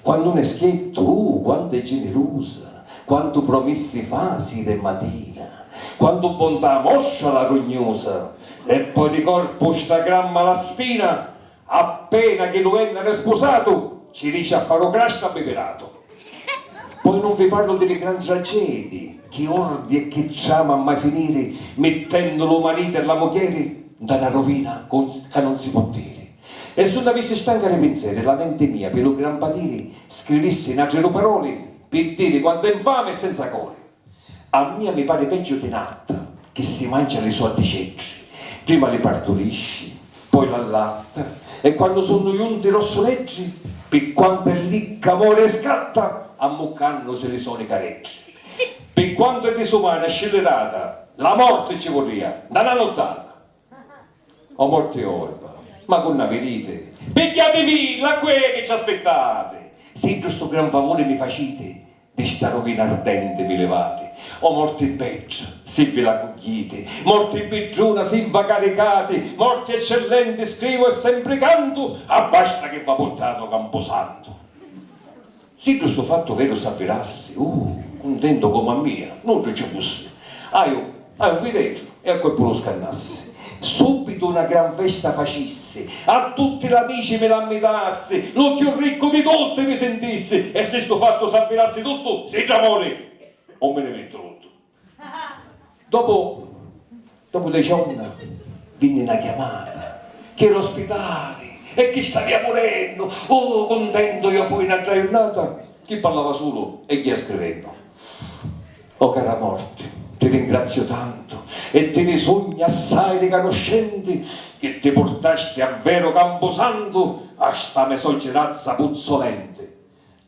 Quannu n'è schiettu, uh, quantu è ginirusa, quantu promissi fa sira e matina, quantu bontà mostra la rugnusa, e poi di corpu sta gramma la spina, appena chi lu vennere spusatu, ci dici a faru crasta bi piratu. Poi nun vi parlu di li gran tragedii, chi ordi e chi trama a mai finiri, mittennu lu mariti e la mugghieri nta na rovina ca nun si pò diri. E su nn'avissi stanca di pinzeri la menti mia pi lu gran patiri scrivissi n'atri du paroli pi diri quant'è nfami e senza cori. A mia mi pari peggiu di n'atta chi si mancia li so atticeddri, prima li parturisci, poi l'allatta e quannu sunnu junti rossuleddri, pi quantu è licca mori e scatta ammuccannusi li soni careddri. Pi quantu è disumana e scillirata, la morti ci vurria, nta na nuttata, O morti orba! Ma cu nna viriti? Pigghiativi la quei chi ci aspittati! Siddu stu gran favuri mi faciti, di sta ruvina ardenti vi livati! O morti bedda, si vi la cugghiiti! Morti bidduna, si va caricati! Morti eccellenti, scrivu e sempri cantu, abbasta chi va purtati o campusantu! Siddu stu fattu veru s'avvirassi, uh! cuntentu comu a mia, nuddu ci fussi. Haju, haju fideju, e a cuerpu lu scannassi. Subitu na gran festa facissi, a tutti l'amici mi l'ammitassi, lu cchiù riccu di tutti mi sintissi, e si stu fattu s'avvirassi tuttu, si dda mori, o mi ni mittu luttu. Dopu dopu deci onna vinni na chiamata chi era o spitali e chi stavia murennu, oh cuntentu iò fui n'atra jurnata chi parlava sulu e jia scrivennu. O cara morti ti ringraziu tantu e ti ni sugnu assai ricanuscenti chi ti purtasti a veru campusantu a sta me so girazza puzzolenti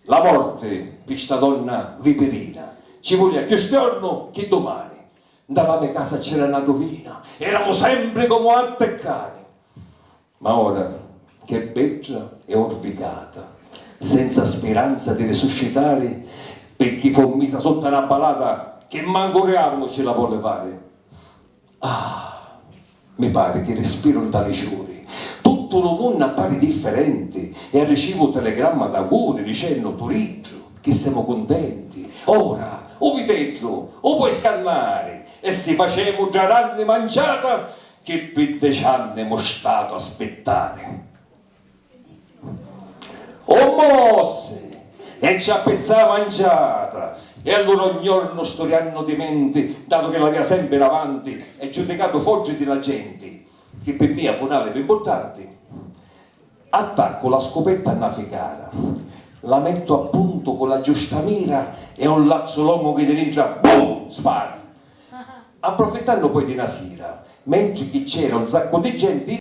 La morti pi sta donna vipirina ci vulia cchiù stiornu chi dumani. Nta la me casa c'era na duvina, eramu sempri comu atti e cani. Ma ora ch'è bedda e urvicata, senza spiranza di risuscitari, picchì fu misa sutta na balata chi mancu u riavulu ci la vò livari, Ah! Mi pari chi rispiru nta li ciuri. Tuttu lu munnu appari differenti e arricivu telegramma d'auguri dicennu, Turiddu, chi semu cuntenti! Ora, u viteddu, u poi scannari e si facemu dda ranni manciata chi pi deci anni emu statu a spittari! O mossi! E ci appizzà a manciata! E allura ogni jornu sturiannu di menti, datu chi l'avia sempri davanti e giudicatu foddi di la genti, chi pi mia fu n'alibi mpurtanti, attaccu la scupetta a na ficara, la mettu a puntu cu la giusta mira e un lazzu longu chi di dintra bum! spara! Approfittannu poi di na sira, mentri chi c'era un saccu di genti,